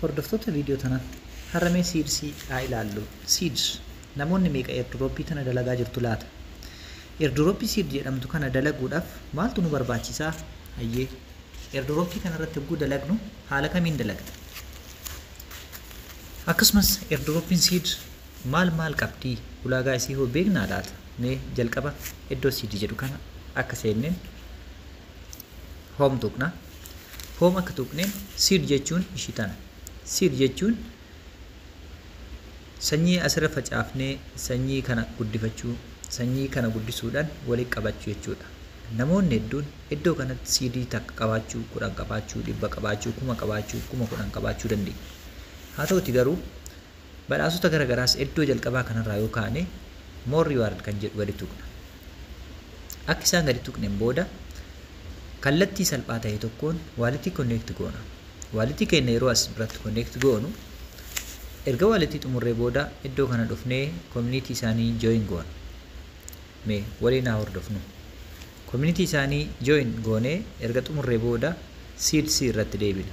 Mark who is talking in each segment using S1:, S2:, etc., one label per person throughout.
S1: Hordoftoota video tana har'a mee seeds haa ilaallu. Seeds namoonni meeqa airdrop tana dalagaa jirtu laata? Airdrop seed jedhamtu kana dalaguudhaaf maaltu nu barbaachisa? Hayyee airdrop kana irratti hogguu dalagnu haala kamiin dalagna? Akkasumas airdrop seed maal maal qabdi? Ulaagaa isii hoo beeknaa laata? Mee jalqaba iddoo seed jedhu kana akka seenneen home tuqna home akka tuqneen seed jechuun ishii tana seed jechuun sanyii asirra facaafnee sanyii kana guddifachuu sanyii kana guddisuudhaan walitti qabachuu jechuudha namoonni hedduun iddoo kanatti siidii takka qabaachuu kudhan qabaachuu dhibba qabaachuu kuma qabaachuu kuma kudhan qabaachuu dandeenya haa ta'uti garuu Badhaasota gara garaas eddoo jalqabaa kanarraa yoo kaane More Reward kan jedhu gadi tuqna. Akka isaan gadi tuqneen booda kallattii salphaa ta'e tokkoon waalitii connect goona. Waalitii keenya yeroo as biratti connect goonu erga waalitii xumurree booda eddoo kana dhufnee community isaanii join goona. Mee waliin haa hordofnu. Community isaanii join goonee erga xumurree booda seeds irratti deebina.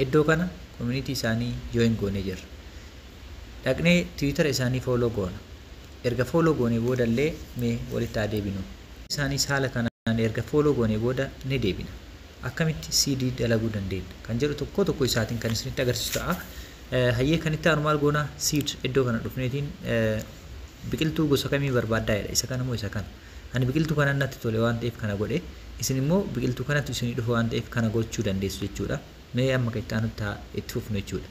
S1: Iddoo kana community isaanii join goonee jirra. Dhaqnee Twitter isaanii follow goona. Erga follow goonee booda illee mee walitti haa deebinu. Isaaniis haala kanaan erga follow goonee booda ni deebina. Akkamitti seed dalaguu dandeenya kan jedhu tokko tokko isaatiin kan isinitti agarsiisu ta'a. Hayyee kan itti aanu maal goona seed iddoo kana dhufneetiin Biqiltuu gosa kamii barbaaddaa jedha. Isa kana moo isa kana? Ani biqiltuu kanan natti tole waan ta'eef kana godhe. Isin immoo biqiltuu kanatu isinii dhufa waan ta'eef kana gochuu dandeessu jechuudha. Mee amma kan itti aanutti haa itti fufnu jechuudha.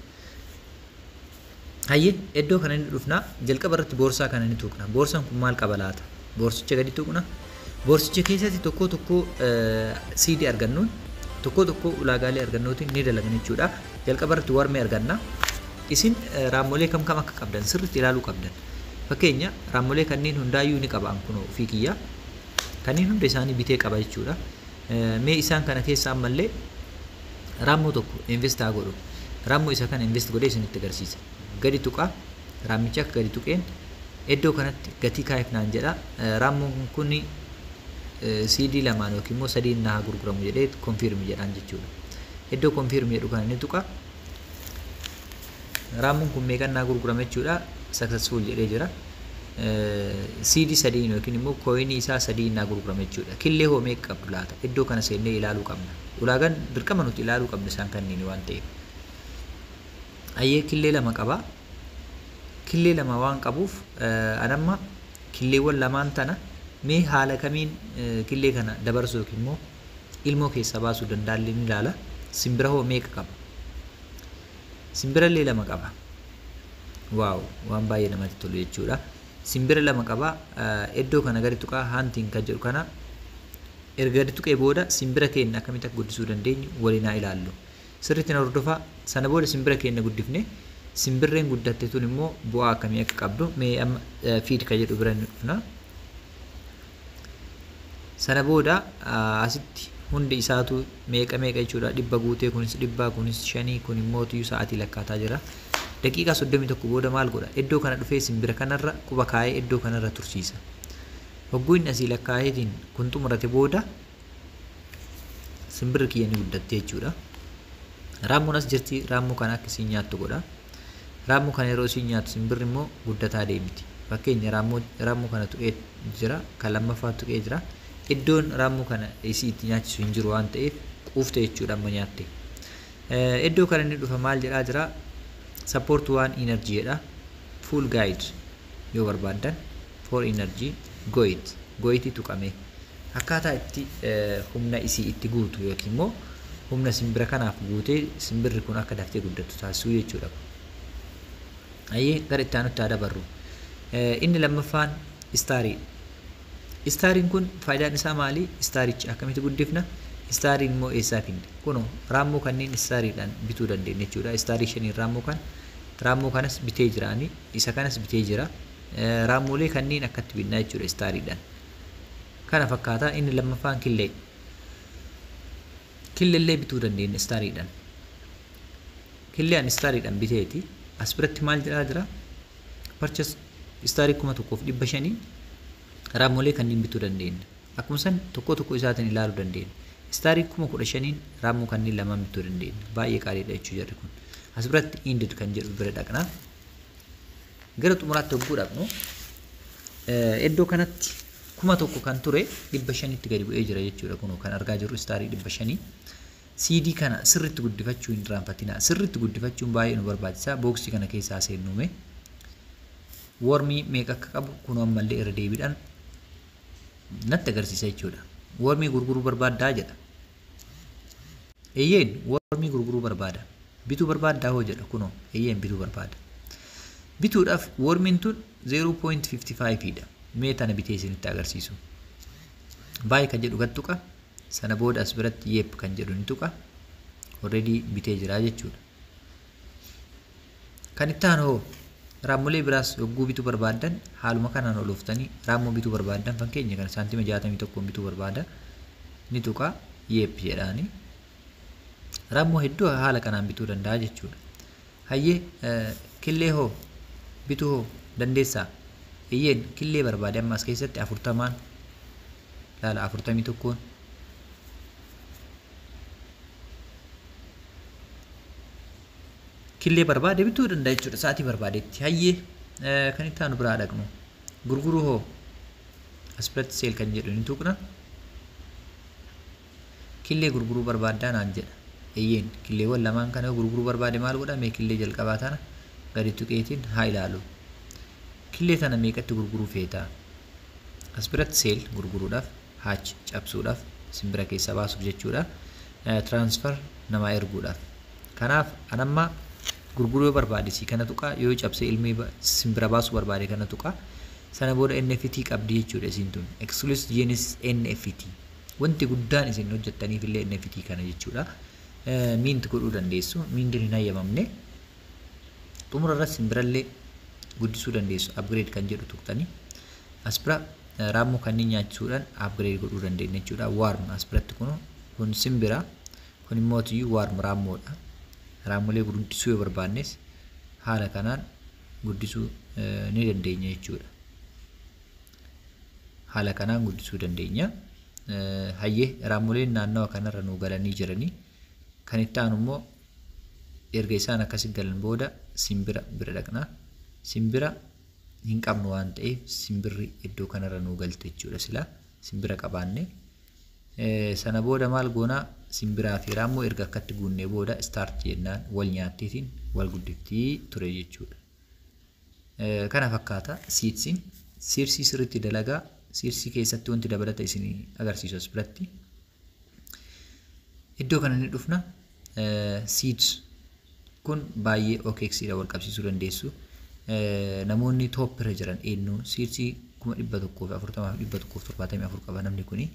S1: Hayyee iddoo kana ni dhufna. Jalqaba irratti boorsaa kana ni tuqna. Boorsaan kun maal qaba laata? Boorsicha gadi tuqna. Boorsicha keessatti tokkoo tokkoo siidii argannuun tokkoo tokkoo ulaagaalee argannootiin ni dalagna jechuudha. Jalqaba irratti warmee arganna. Isin raammolee kam kam akka qabdan sirriitti ilaaluu qabdan. Fakkeenya raammolee kanneen hundaayyuu ni qabaan kunoo ofii kiyyaa. Kanneen hunda isaanii bitee qaba jechuudha. Mee isaan kana keessa ammallee raammoo tokko invest haa godhu. Raammoo isa kana invest godhee isinitti agarsiisa. gadi tuqa. Raammichi akka gadi tuqeen iddoo kanatti gatii kaa'eef naan jedha. Raammuun kun CD lamaan yookiin immoo sadiin naa gurguramu jedhee konfiirmi jedhaan jechuudha. Iddoo konfiirmi jedhu kana ni tuqa. Raammuun kun meeqan naa gurgurama jechuudha. Successful jedhee jira. CD sadiin yookiin immoo kooyinii isaa sadiin naa gurgurama jechuudha. Killee hoo meeqa qabdu laata? Iddoo kana seennee ilaaluu qabna. Ulaagaan dirqama nuti ilaaluu qabnu isaan kanniin waan ta'eef. Ayyee killee lama qaba. Killee lama waan qabuuf an amma killeewwan lamaan tana mee haala kamiin killee kana dabarsuu yookiin immoo ilmoo keessaa baasuu dandaallee ni ilaala. Simbira hoo meeqa qaba? Simbirallee lama qaba. Waaw waan baay'ee namatti tolu jechuudha. Simbira lama qaba. Iddoo kana gadi tuqaa haantiin kan jedhu kana erga gadi tuqee booda simbira keenya akkamitti akka guddisuu dandeenyu waliin haa ilaallu. Sirriitti na hordofaa. Sana booda simbira keenna guddifne. Simbirreen guddatte tun immoo bu'aa akkamii akka qabdu mee amma feed ka jedhu bira ni dhufna. Sana booda asitti hundi isaatu meeqa meeqa jechuudha dhibba guutee kunis dhibbaa kunis shanii kun immoo tuyyu sa'aatii lakkaataa jira. Daqiiqaa soddomii tokko booda maal godha? Iddoo kana dhufee simbira kanarra quba kaa'ee iddoo kanarra tursiisa. Hogguu inni asii lakkaa'eetiin kun xumurate booda Simbirri kiyya ni guddatte jechuudha. Raammoon as jirti raammoo kana akka isiin nyaattu godha. Raammoo kana yeroo isiin nyaattu simbirri immoo guddataa deemti. Fakkeenya raammoo kana tuqee jira kan lammaffaa tuqee jira. Iddoon raammoo kana isii itti nyaachisu hin jiru waan ta'eef quufte jechuudha amma nyaatte. Iddoo kana inni dhufa maal jedhaa jira? Support waan energy jedha. Full guide. yoo barbaaddan for energy goit goiti tuqamee akkaataa itti humna isii itti guutu yookiin immoo humna simbira kanaaf guutee simbirri kun akka daftee guddattu taasisuu jechuudha. Ayyee gara itti aanutti haa dabarru. Inni lammaffaan istaarii. Istaariin kun faayidaan isaa maali? Istaarichi akkamitti guddifna? Istaariin immoo eessaa finna? Kunoo raammoo kanneen istaariidhaan bituu dandeenya jechuudha. Istaarii shaniin raammoo kan raammoo kanas bitee jiraanii. Isa kanas bitee jira. Raammolee kanneen akkatti binnaa jechuudha istaariidhaan. Kana fakkaata inni lammaffaan killee. Killellee bituu dandeenya istaariidhaan. Killee an istaariidhaan biteeti. As biratti maal jedhaa jira? Parchas istaarii kuma tokkoof dhibba shaniin raammolee kanneen bituu dandeenya. Akkuma san tokko tokko isaatiin ilaaluu dandeenya. Istaarii kuma kudha shaniin raammoo kanneen lamaan bituu dandeenya. Baay'ee qaaliidha jechuu jarri kun. As biratti indid kan jedhu bira dhaqna. Gara xumuraatti hogguu dhaqnu iddoo kanatti kuma tokko kan ture dhibba shanitti gadi bu'ee jira jechuudha kunoo kan argaa jirru istaarii dhibba shanii. CD kana sirriitti guddifachuu hin irraanfatinaa. Sirriitti guddifachuun baay'ee nu barbaachisa. Booksii kana keessaa seennuume. Wormii meeqa akka qabu kunoo ammallee irra deebiidhaan natti agarsiisa jechuudha. Wormii gurguruu barbaaddaa jedha. Eyyeen wormii gurguruu barbaada. Bituu barbaaddaa hoo jedha kunoo eyyeen bituu barbaada. Bituudhaaf wormiin tun 0.55 dha. Mee tana bitee isinitti agarsiisu. Baay kan jedhu gad tuqa. Sana booda as biratti yeep kan jedhu ni tuqa. Already bitee jira jechuudha. Kan itti aanu hoo? Raammolee biraas yogguu bituu barbaaddan haaluma kanaan ol ooftanii raammoo bituu barbaaddan fakkeenya kana saantima 61 bituu barbaada ni tuqaa yeep jedhaani. Raammoo hedduu haala kanaan bituu danda'a jechuudha. Hayyee killee hoo bituu hoo dandeessaa? Eeyyeen killee barbaade amma as keessatti afurtamaan laala afurtamii tokkoon killee barbaade bituu danda'a jechuudha sa'atii barbaadetti hayyee kan itti aanu biraa dhaqnu gurguruu hoo aspirati seel kan jedhu ni tuqna killee gurguruu barbaaddaa naan jedha eeyyeen killeewwan lamaan kana gurguruu barbaade maal godha mee killee jalqabaa tana gadi tuqeetiin haa ilaalu killee tana meeqatti gurguruu feetaa aspirati seel gurguruudhaaf H cabsuudhaaf simbira keessa baasuuf jechuudha. Transfer namaa erguudhaaf. Kanaaf an amma gurguruu yoo barbaade sii kana tuqa yoo cabsee ilmii simbira baasuu barbaade kana tuqa sana booda NFT qabdi jechuudha isiin tun exclusive genes NFT wanti guddaan isin hojjettaniif illee NFT kana jechuudha. Miint godhuu dandeessu miintiin hin hayyamamne xumura irratti simbirallee guddisuu dandeessu upgrade kan jedhu tuqtanii as bira Raammoo kanneen nyaachisuudhaan upgrade godhuu dandeenya jechuudha. Warm as biratti kun kun simbira kun immoo tiyyuu warm raammoodha. Raammolee guddisuu yoo barbaannes haala kanaan guddisuu ni dandeenya jechuudha. Haala kanaan guddisuu dandeenya. Hayyee raammoleen naannawa kanarra nuu galanii jiranii kan itti aanu immoo erga isaan akkasi galan booda simbira bira dhaqna. Simbira hin qabnu waan ta'eef simbirri iddoo kanarra nuu galte jechuudha sila simbira qabaanne. Sana booda maal goona simbiraa fi raammoo erga akkatti guunnee booda istaarti jennaan wal nyaattiitiin wal guddiftii ture jechuudha. Kana fakkaata siidsiin siirsii sirriitti dalagaa siirsii keessatti wanti dabalata isin agarsiisu as biratti Iddoo kana ni dhufna. Seeds kun baay'ee OKX dha wal qabsiisuu dandeessu. Namoonni top irra jiran eenyu seeds kuma dhibba tokkoo fi afurtamaa fi dhibba tokkoo fi torbaatamii afur qaba namni kuni.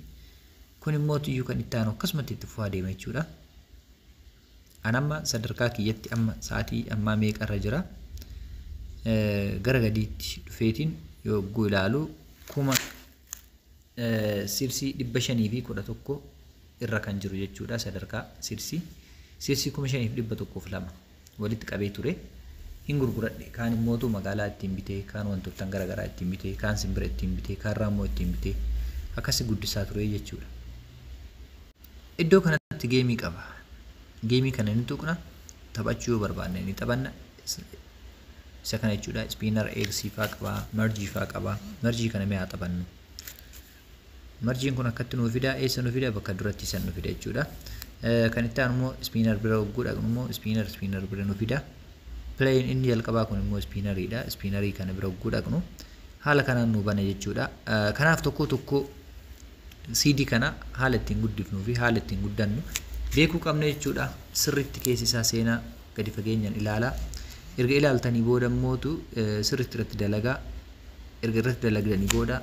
S1: Kun immoo tuyyuu kan itti aanu akkasumatti itti fufaa deema jechuudha. An amma sadarkaa kiyyatti amma sa'aatii ammaa meeqa irra jira. Gara gadiitti dhufeetiin yogguu ilaalu kuma Seedsii 511 irra kan jiru jechuudha sadarkaa seedsii. Seedsii 5102 walitti qabee ture. Hin gurguradhe. Kaan immootu magaalaa ittiin bitee, kaan wantoottan gara garaa ittiin bitee, kaan simbira ittiin bitee, kaan raammoo ittiin bitee akkasi guddisaa ture jechuudha. Iddoo kanatti geemii qaba. Geemii kana ni tuqna, taphachuu yoo barbaanne ni taphanna, isa kana jechuudha spinner x faa qaba merge faa qaba merge kana mee haa taphannu mergeen kun akkatti nuu fida eessa nu fida bakka duratti san nu fida jechuudha kan itti aanu immoo spinner bira hogguu dhaqnu immoo spinner spinner bira nu fida playin inni jalqabaa kun immoo spiinariidha spiinarii kana bira hogguu dhaqnu haala kanaan nu bana jechuudha kanaaf tokko tokko CD kana haala ittiin guddifnuu fi haala ittiin guddannu beekuu qabna jechuudha sirriitti keessi isaa seenaa gadi fageenyaan ilaalaa. Erga ilaaltanii booda immootu sirriitti irratti dalagaa. Erga irratti dalagdanii booda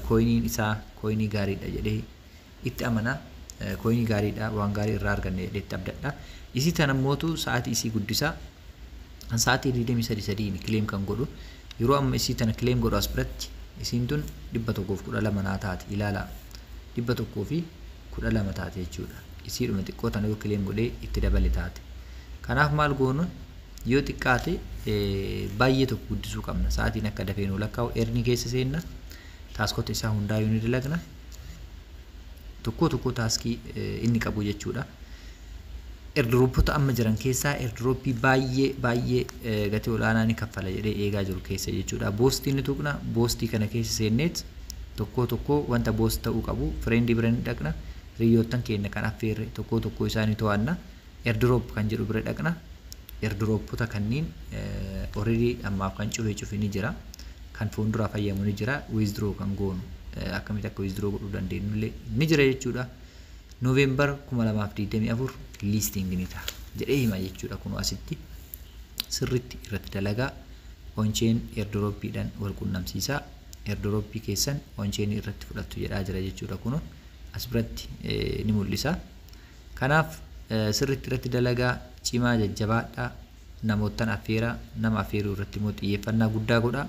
S1: kooyiniin isaa kooyinii gaariidha jedhee itti amana. Kooyinii gaariidha waan gaarii irraa arganne jedhee itti abdadha. Isii tana immootu sa'aatii isii guddisa. Sa'aatii 23 kileem kan godhu. Yeroo amma isii tana kileem godhu as biratti isiin tun 112 naa taati ilaalaa. 112 taati jechuudha. isiidhuma xiqqoo tana yoo claim godhee itti dabale taate kanaaf maal goona yoo xiqqaate baay'ee tokko guddisuu qabna sa'aatiin akka dafee nu lakkaa'u erni keessa seenna taaskota isaa hundaa yoo ni dalagna tokkoo tokkoo taaskii inni qabu jechuudha. Erdiroopota amma jiran keessaa erdirooppii baay'ee baay'ee gatii olaanaa ni kaffala jedhee eegaa jiru keessa jechuudha. Boostii ni tuqna boostii kana keessa seenneet tokkoo tokkoo wanta boost ta'uu qabu fireendi bira ni dhaqna Hiriyyoottan keenya kan affeerre tokkoo tokkoo isaa ni to'anna. Airdrop kan jedhu bira dhaqna. Airdropota kanniin already ammaaf kan cufee cufe ni jira. Kan fuulduraa fayyamu ni jira. Withdraw kan goonu akkamitti akka withdraw godhuu dandeenyu illee ni jira jechuudha. November 2024 listing ni ta'a jedhee hima jechuudha kun asitti sirritti irratti dalagaa oncheen airdropidhaan wal qunnamsiisaa airdropii keessan oncheen irratti fudhattu jedhaa jira jechuudha kun as biratti ni mul'isa. Kanaaf sirriitti irratti dalagaa cimaa jajjabaadha. Namoottan affeera nama affeeruu irratti immoo xiyyeeffannaa guddaa godha.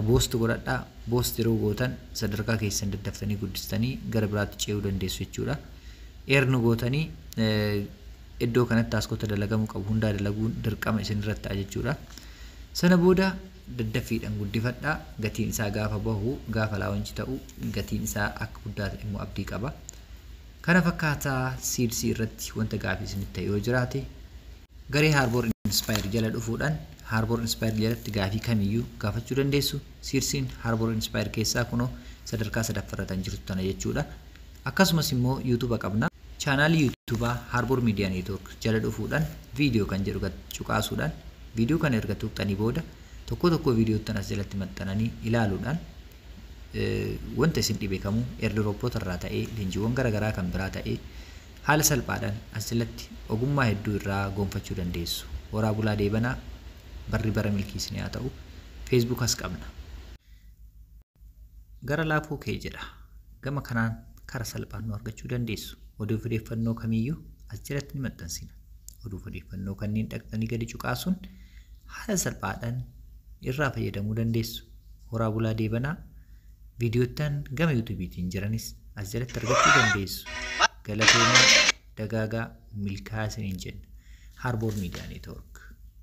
S1: Boost godhadha. Boost yeroo gootan sadarkaa keessan daddaftanii guddistanii gara biraatti ce'uu dandeessu jechuudha. Eernu gootanii iddoo kanatti taaskota dalagamuu qabu hundaa dalaguun dirqama isin irratti ta'a jechuudha. Sana booda daddaffiidhan guddifadha gatiin isaa gaafa bahu gaafa launch ta'u gatiin isaa akka guddaa ta'e immoo abdii qaba kana fakkaata seeds irratti wanta gaafii isinitti ta'e yoo jiraate garee harbour inspire jala dhufuudhaan harbour inspire jalatti gaafii kamiyyuu gaafachuu dandeessu seedsiin harbour inspire keessaa kunoo sadarkaa sadaffarratan jirtu tana jechuudha Akkasumas immoo YouTube qabna. Chaanaalii YouTube Harbour Media Network jala dhufuudhaan Video kan jedhu gad cuqaasuudhaan video kana erga tuqxanii booda tokkoo tokkoo videottan as jalatti maxxananii ilaaluudhaan wanta isin dhibe kamuu airdropota irraa ta'ee leenjiiwwan gara garaa kan biraa ta'ee haala salphaadhaan as jalatti ogummaa hedduu irraa gonfachuu dandeessu. Horaa bulaa deebanaa barri bara milkii isin haa ta'u. Facebook as qabna. Gara laafuu kee jedha. Gama kanaan kara salphaan nu argachuu dandeessu. Oduu fi odeeffannoo kamiyyuu as jalatti ni maxxansina. Oduu fi odeeffannoo kanneen dhaqxanii gadi cuqaasuun haala salphaadhaan irraa fayyadamuu dandeessu. Horaa bulaa deebanaa viidiyoottan gama yuutuubiitiin jiranis as jalatti argachuu dandeessu. Galatoomaa dagaagaa milkaa'aa isiniin jenna. Harboor Miidiyaa Neetwoork.